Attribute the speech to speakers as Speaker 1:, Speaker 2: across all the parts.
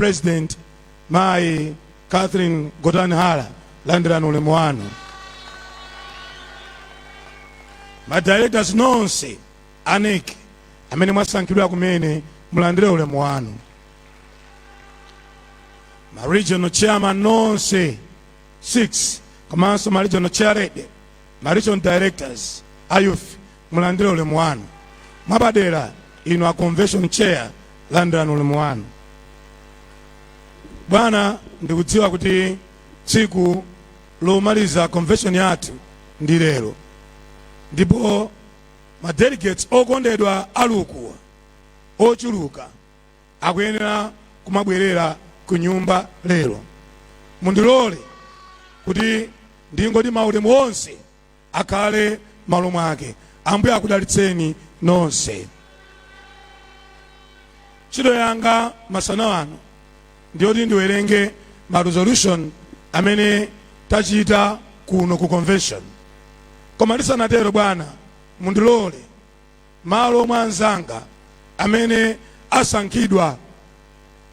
Speaker 1: president mayi catherine gotani hara landirani ulemu wanu madirectors nonse a NEC amene mwasankhidwa kumene mulandire ulemu wanu ma regional chairman nonse 6 komanso ma regional chairlady ma regional directors a youth mulandire ulemu wanu mwapadera inu a convention chair landirani ulemu wanu bwana ndikudziwa kuti tsiku lomaliza convention yathu ndi lero ndipo ma delegates okondedwa ali ukuwa ochuluka akuyenera kumabwerera ku nyumba lero mundilole kuti ndingoti maulemu onse akhale malo mwake ambuye akudalitseni nonse ntchito yanga masana ano ndiyoti ndiwerenge ma resolution amene tachita kuno ku convention koma ndisanatero bwana mundilole malo mwa anzanga amene asankhidwa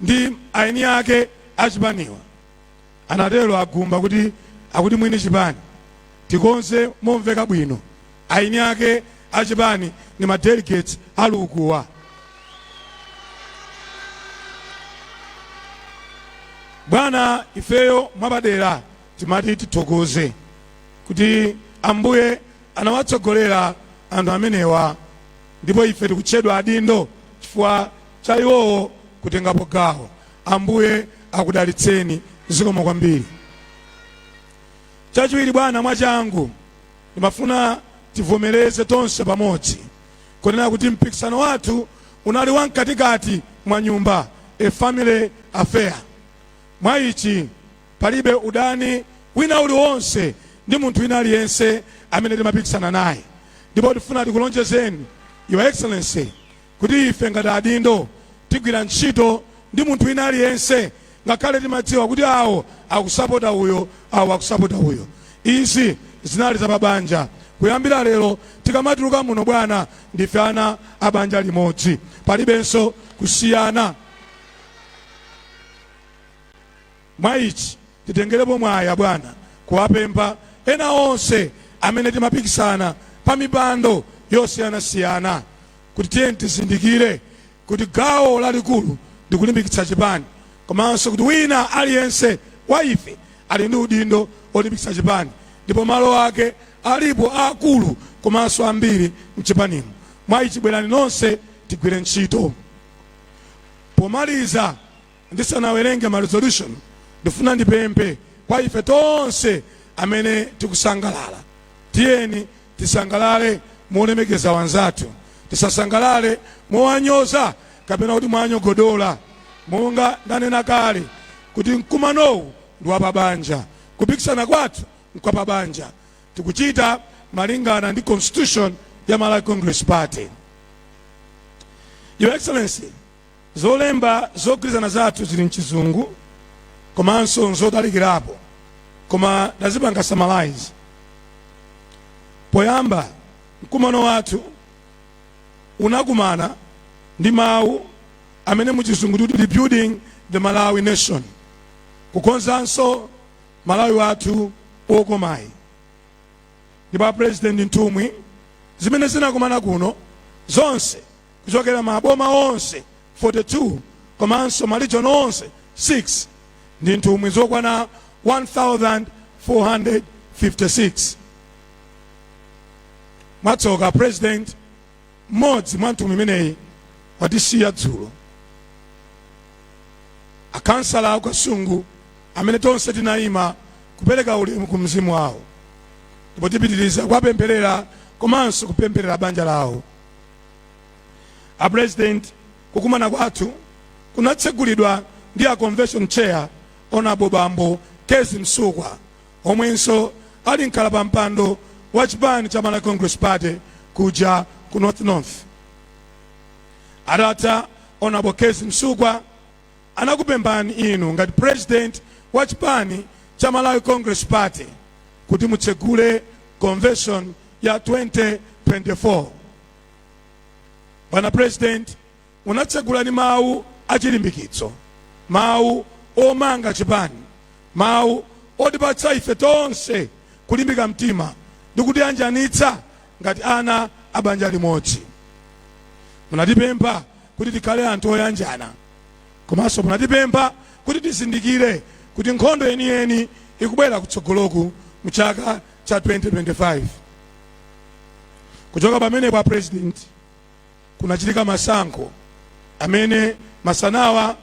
Speaker 1: ndi eni ake a chipaniwa Anatero a Gumba kuti akuti mwini chipani tikonze momveka bwino eni ake a chipani ndi ma delegates ali ukuwa. Bwana ifeyo mwapadera timati tithokoze kuti Ambuye anawatsogolera anthu amenewa ndipo ife tikutchedwa adindo chifukwa cha iwowo kutengapo gawo. Ambuye akudalitseni. Zikomo kwambiri. Chachiwiri, bwana, mwachangu ndimafuna tivomereze tonse pamodzi kunena kuti mpikisano wathu unali wamkatikati mwa nyumba, a family affair. Mwa ichi palibe udani wina uliwonse ndi munthu wina aliyense amene timapikisana naye, ndipo tifuna tikulonjezeni Your Excellency kuti ife ngati adindo tigwira ntchito ndi munthu wina aliyense ngakhale timadziwa kuti awo akusapota uyo awo akusapota uyo izi zinali za pabanja kuyambira lero tikamatuluka muno bwana ndife ana a banja limodzi palibenso kusiyana Mwa ichi titengerepo mwayi, abwana, kuwapempha ena onse amene timapikisana pa mipando yosiyanasiyana kuti tiyeni tizindikire kuti gawo lalikulu ndi kulimbikitsa chipani komanso kuti wina aliyense wa ife ali ndi udindo olimbikitsa chipani ndipo malo ake alipo aakulu komanso ambiri m'chipanimu. Mwa ichi bwerani nonse tigwire ntchito. Pomaliza. Ndisanawerenge ma resolution ndifuna ndipemphe kwa ife tonse amene tikusangalala tiyeni tisangalale molemekeza wanzathu tisasangalale mowanyoza kapena kuti mwanyogodola monga ndanena kale kuti mkumanowu ndi wapabanja kupikisana kwathu nkwapabanja tikuchita malingana ndi constitution ya Malawi Congress Party Your Excellency Zolemba zogwirizana zathu zili m'Chizungu komanso n'zotalikirapo koma ndazipanga summarize. Poyamba mkumano wathu unakumana ndi mawu amene mu Chizungu tikuti rebuilding the Malawi nation, kukonzanso Malawi wathu wokomayu. Ndipo a President nthumwi zimene zinakumana kuno zonse kuchokera maboma onse 42 komanso ma region onse 6 ndi nthumwi zokwana 1456 mwatsoka president mmodzi mwa nthumwi imeneyi watisiya dzulo a khansala a Kasungu amene tonse tinayima kupereka ulemu ku mzimu wawo ndipo tipitiriza kuwapempherera komanso kupempherera banja lawo a president kukumana kwathu kunatsegulidwa ndi a convention chair Honourable bambo Kezzie Msukwa omwenso ali mkhalapampando wa chipani cha malawi congress party kuja ku north north atatha Honourable Kezzie Msukwa anakupemphani inu ngati president wa chipani cha Malawi Congress Party kuti mutsegule convention ya 2024. Bwana president, munatsegula ndi mawu achilimbikitso, mawu omanga chipani, mawu otipatsa ife tonse kulimbika mtima ndi kutiyanjanitsa Ngati ana a banja limodzi, munatipempha kuti tikhale anthu oyanjana komanso munatipempha kuti tizindikire kuti nkhondo yeniyeni ikubwera kutsogoloku mu chaka cha 2025. Kuchoka pamenepa a President, kunachitika masankho amene masanawa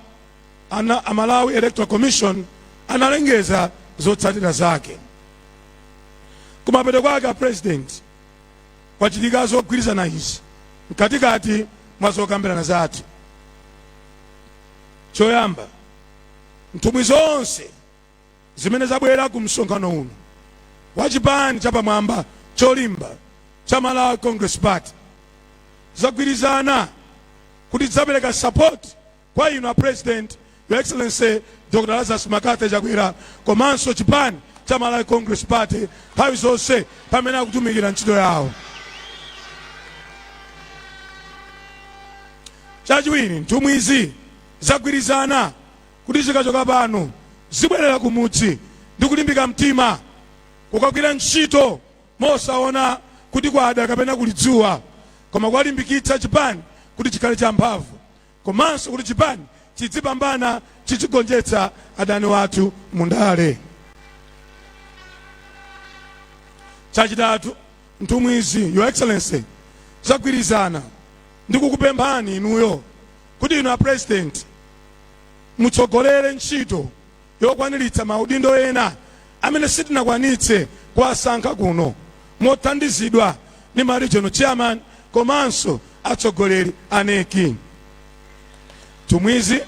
Speaker 1: a Malawi Electoral Commission analengeza zotsatira zake kumapeto kwake a president kwachitika zogwirizana izi mkatikati mwa zokambirana zathu choyamba nthumwi zonse zimene zabwera ku msonkhano uno wa chipani chapamwamba cholimba cha Malawi Congress Party zagwirizana kuti zapereka support kwa inu a president your excellency dr lazarus McCarthy chakwera komanso chipani cha malawi congress party nthawi zonse pamene akutumikira ntchito yawo chachiwiri nthumwi izi zagwirizana kuti zikachoka pano zibwerera kumudzi ndi kulimbika mtima kukagwira ntchito mosaona kuti kwada kapena kuli dzuwa koma kuwalimbikitsa chipani kuti chikhale champhamvu komanso kuti chipani chizipambana chizigonjetsa adani wathu mundale chachitatu nthumwizi your excellency zagwirizana ndi kukupemphani inuyo kuti inu a president mutsogolere ntchito yokwaniritsa maudindo ena amene sitinakwanitse kuwasankha kuno mothandizidwa ndi ma regional chairman komanso atsogoleri a NEC nthumwizi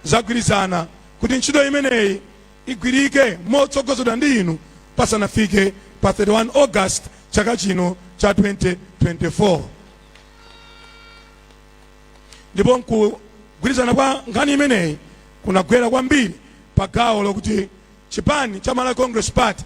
Speaker 1: zagwirizana kuti ntchito imeneyi igwirike motsogozedwa ndi inu pasanafike pa 31 august chaka chino cha 2024 ndipo kugwirizana kwa nkhani imeneyi kunagwera kwambiri pa gawo lokuti chipani cha Malawi Congress Party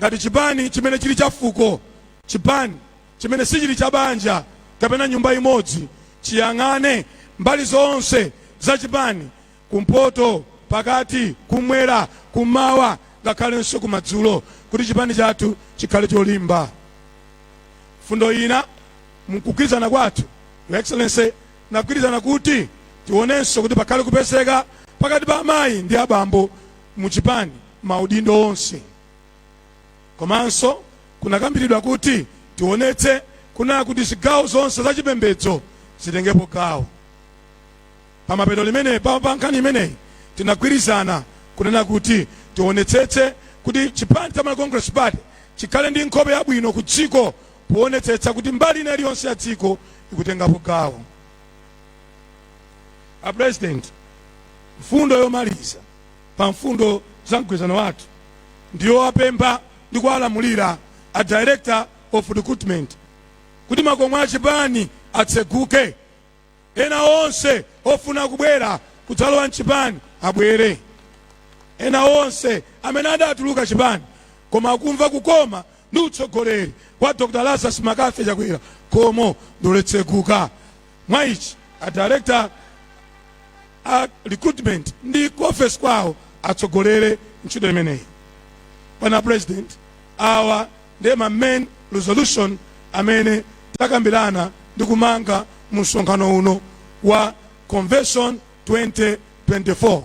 Speaker 1: ngati chipani chimene chili cha fuko, chipani chimene sichili cha banja kapena nyumba imodzi, chiyang'ane mbali zonse za chipani, kumpoto, pakati, kumwera, kumawa ngakhalenso kumadzulo kuti chipani chathu chikhale cholimba. Mfundo ina Mukugwirizana kwathu, Your Excellency, tinagwirizana kuti tionenso kuti pakhale kupezeka pakati pa amayi ndi abambo mu chipani maudindo onse. Komanso kunakambiridwa kuti tionetse kunena kuti zigawo zonse za chipembedzo zitengepo gawo. Pamapeto penipeni pa nkhani imeneyi tinagwirizana kunena kuti tionetsetse kuti chipani cha Malawi Congress Party chikhale ndi nkhope yabwino ku dziko poonetsetsa kuti mbali ina iliyonse ya dziko ikutengapo gawo. A President, mfundo yomaliza pa mfundo za mgwirizano wathu ndiyo kuwapempha ndi kuwalamulira a Director of Recruitment kuti makomo a chipani atseguke Ena onse ofuna kubwera kudzalowa mchipani abwere. Ena onse amene adatuluka chipani koma akumva kukoma ndi utsogoleri wa Dr Lazarus Mccarthy Chakwera khomo ndilotseguka. Mwa ichi a Director a Recruitment ndi ku ofesi kwawo atsogolere ntchito imeneyi. Bwana President, awa ndi ma main resolution amene takambilana ndi kumanga mu msonkhano uno wa convention 2024.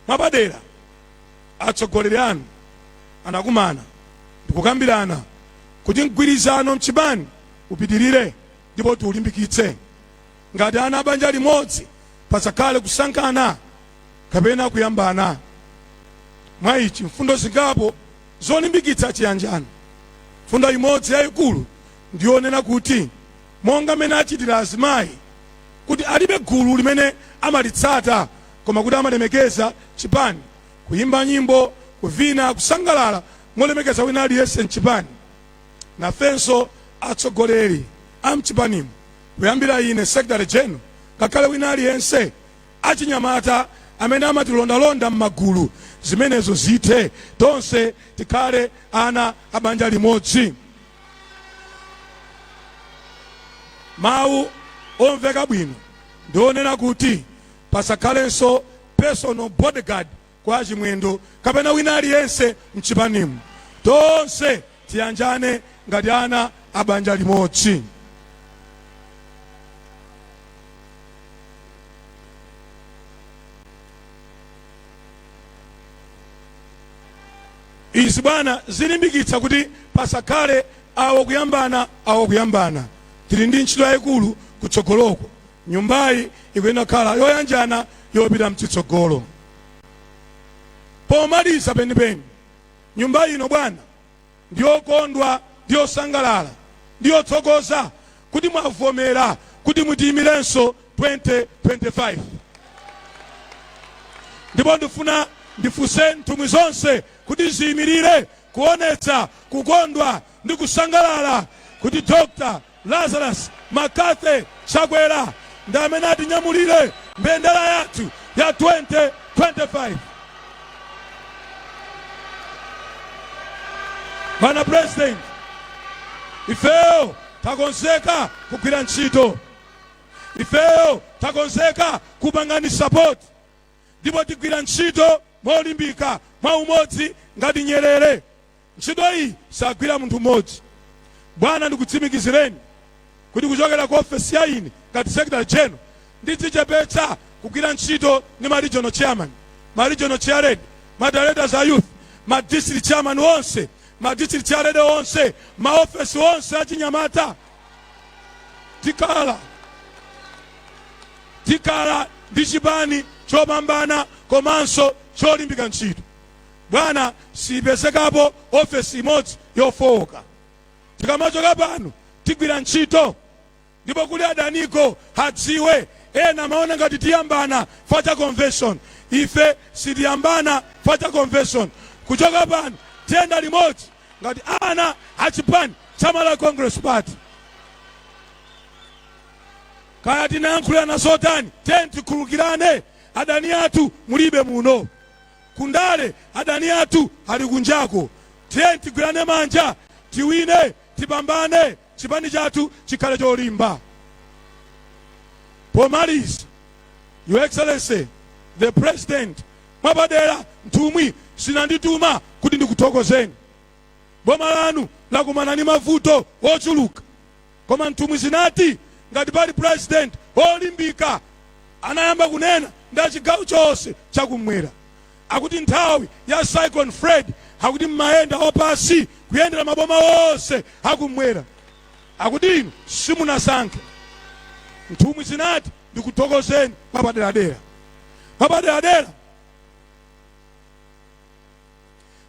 Speaker 1: Mwapadera, atsogoleri anu anakumana ndikukambilana kuti mgwirizano mchipani upitilire ndipo tiulimbikitse. Ngati ana a banja limodzi, pasakhale kusankhana kapena kuyambana. Mwa ichi, mfundo zingapo Zolimbikitsa Chiyanjano. Mfundo imodzi yaikulu ndi yonena kuti monga mmene achitira azimayi kuti alibe gulu limene amalitsata koma kuti amalemekeza chipani, kuyimba nyimbo, kuvina, kusangalala molemekeza wina aliyense mchipani, nafenso atsogoleri amchipanimu kuyambira ine, Secretary General, ngakhale wina aliyense. achinyamata amene amatilondalonda m'magulu, zimenezo zithe, tonse tikhale ana a banja limodzi. Mawu omveka bwino ndi onena kuti pasakhalenso personal bodyguard kwa a Chimwendo kapena wina aliyense mchipanimu. Tonse tiyanjane ngati ana a banja limodzi. Izi bwana zilimbikitsa kuti pasakhale awo kuyambana awo kuyambana. Tili ndi ntchito yayikulu kutsogoloko. Nyumbayi ikuyenera kukhala yoyanjana yopita mchitsogolo. Pomaliza penipeni, nyumba ino bwana ndiyokondwa ndi yosangalala ndi yothokoza kuti mwavomera kuti mutiyimirenso 2025 ndipo ndifuna ndifunse nthumwi zonse kuti ziyimirire kuonetsa kukondwa ndi kusangalala kuti Dr. Lazarus McCarthy Chakwera ndi amene atinyamulire mbendera yathu ya 2025. Bwana President, ifeyo takonzeka kugwira ntchito, ifeyo takonzeka kupangani support ndipo tigwira ntchito molimbika mwaumodzi ngati nyerere. Ntchito iyi sagwira munthu mmodzi bwana ndikutsimikizireni kuti kuchokera ku ofesi ya ine ngati secretary general ndidzichepetsa kugwira ntchito ndi ma regional chairman, ma regional chairlady, ma directors a youth, ma district chairman onse, ma district chairlady onse, ma ofesi onse achinyamata. Tikhala ndi chipani chopambana komanso cholimbika ntchito. bwana siyipezekapo ofesi imodzi yofowoka tikamachoka pano tigwira ntchito ndipo kuli adaniko hadziwe ena amaona ngati tiyambana facha convention ife sitiyambana facha convention kuchoka pano tiyenda limodzi ngati ana achipani chama la congress party kaya tinayankhulana zotani tiyeni tikhululukirane adani athu mulibe muno Ku ndale adani athu ali kunjako, tiyeni tigwirane manja tiwine, tipambane, chipani chathu chikhale cholimba. Pomaliza, Your Excellency the President, mwapadera nthumwi zinandituma kuti ndikuthokozeni. Boma lanu lakumana ndi mavuto ochuluka. Koma nthumwi zinati ngati pali pulezidenti olimbika anayamba kunena ndi achigawo chonse chakumwera akuti nthawi ya cyclone Fred akuti mumayenda wapansi kuyendera maboma onse akumwera akuti inu simunasankhe nthumwi zinati ndikuthokozeni mwapaderadera mwapaderadera.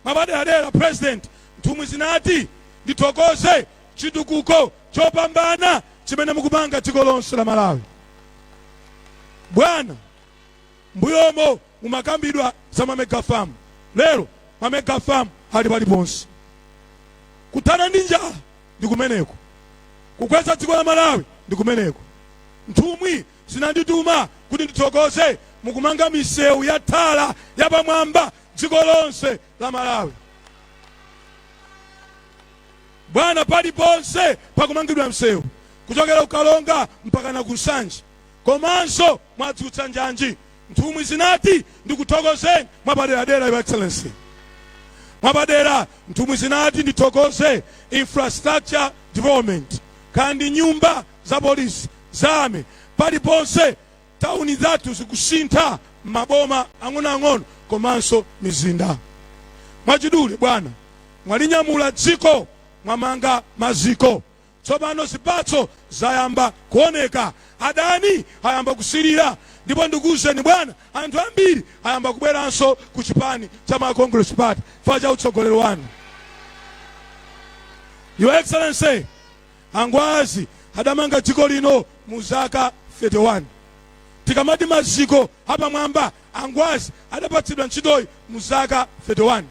Speaker 1: Mwapaderadera President, nthumwi zinati ndithokoze chitukuko chopambana chimene mukupanga dziko lonse la Malawi. Bwana, mbuyomo mumakambidwa za ma mega farm, lero ma mega farm ali paliponse. Kuthana ndi njala ndi kumeneko, kukweza dziko la Malawi ndi kumeneko. Nthumwi zinandituma kuti ndithokoze mukumanga misewu ya thala yapamwamba dziko lonse la Malawi. Bwana, paliponse pakumangidwa msewu kuchokera ku Karonga mpaka na ku Nsanje, komanso mwadzutsa njanji. Nthumwi zinati ndikuthokozeni mwapaderadera, Your Excellency. Mwapadera nthumwi zinati ndithokoze infrastructure development kandi nyumba za polisi zamera paliponse Tawuni zathu zikusintha m'maboma ang'onoang'ono komanso mizinda. Mwachidule, bwana, mwalinyamula dziko, mwamanga maziko. Tsopano zipatso zayamba kuoneka. Adani ayamba kusirira. Ndipo ndikuuzeni, bwana, anthu ambiri ayamba kubweranso ku chipani cha Malawi Congress Party chifukwa cha utsogoleri wanu. Your Excellency, A Ngwazi adamanga dziko lino mu zaka 31. Tikamati maziko apamwamba, a Ngwazi adapatsidwa ntchitoyi mu zaka 31.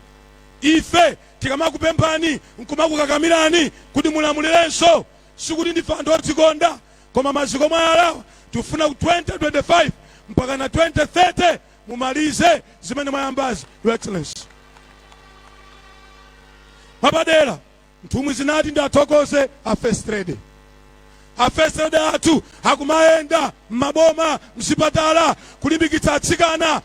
Speaker 1: Ife tikamakupemphani nkumakukakamirani kuti mulamulirenso, sikuti ndife anthu odzikonda, koma maziko mwayalawa tifuna ku 2025 mpakana 2030 mumalize zimene mwayambazi, Your Excellency. Mwapadera, Nthumwi zinati ndiwathokoze a First Lady. A First Lady athu akumayenda m'maboma, mzipatala kulimbikitsa atsikana.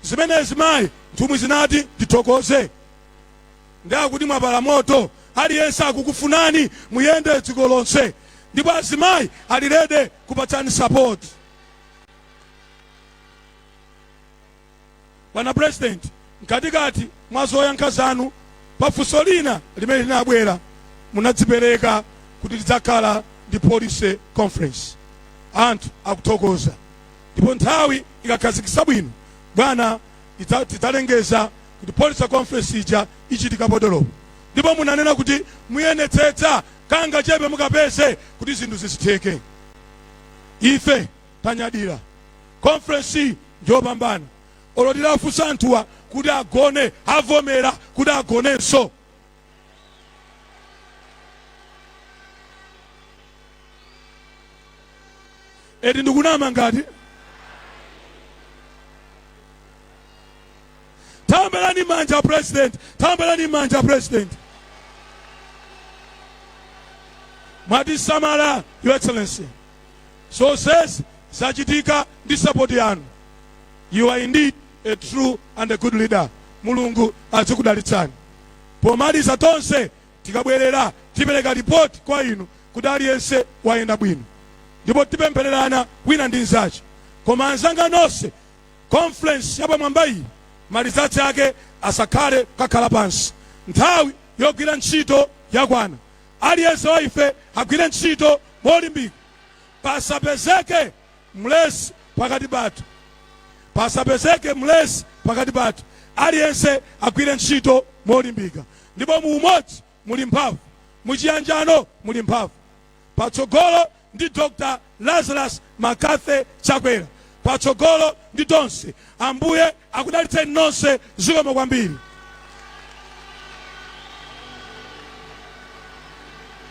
Speaker 1: Zimenezi mayi, nthumwi zinati ndithokoze. Nde akuti mwapala moto, aliyense akukufunani muyende dziko lonse. Ndipo azimayi ali ready kupatsani support. Bwana President, mkatikati mwa zoyankha zanu pa funso lina limene linabwera munadzipereka kuti tidzakhala ndi policy conference. Anthu akuthokoza ndipo nthawi ikakhazikitsa bwino bwana tidzalengeza kuti policy conference ija ichitika potolopo ndipo munanena kuti muyenetsetsa kangachepe mukapeze kuti zinthu zizitheke ife tanyadira conference iyi njopambana olo titafunsa anthuwa kuti agone avomera kuti agonenso eti ndikunama ngati tambeni manja president tambeni manja president mwatisamala your excellency Zonsezi zachitika ndi support yanu. You are indeed a true and a good leader. Mulungu azikudalitsani. Pomaliza tonse tikabwerera tipereka report kwa inu kuti aliyense wayenda bwino. Ndipo tipemphererana wina ndi nzache. Koma anzanga nonse conference yapamwamba iyi malizatsi ake asakhale kukakhala pansi. Nthawi yogwira ntchito yakwana. Aliyense wa ife agwire ntchito molimbika. Pasapezeke mlesi pakati pathu. Pasapezeke mlesi pakati pathu. Aliyense agwire ntchito molimbika. Ndipo mu umodzi muli mphamvu. Mu chiyanjano muli mphamvu. Patsogolo ndi Dr Lazarus McCarthy Chakwera. Patsogolo ndi tonse. Ambuye akudalitseni nonse. Zikomo kwambiri.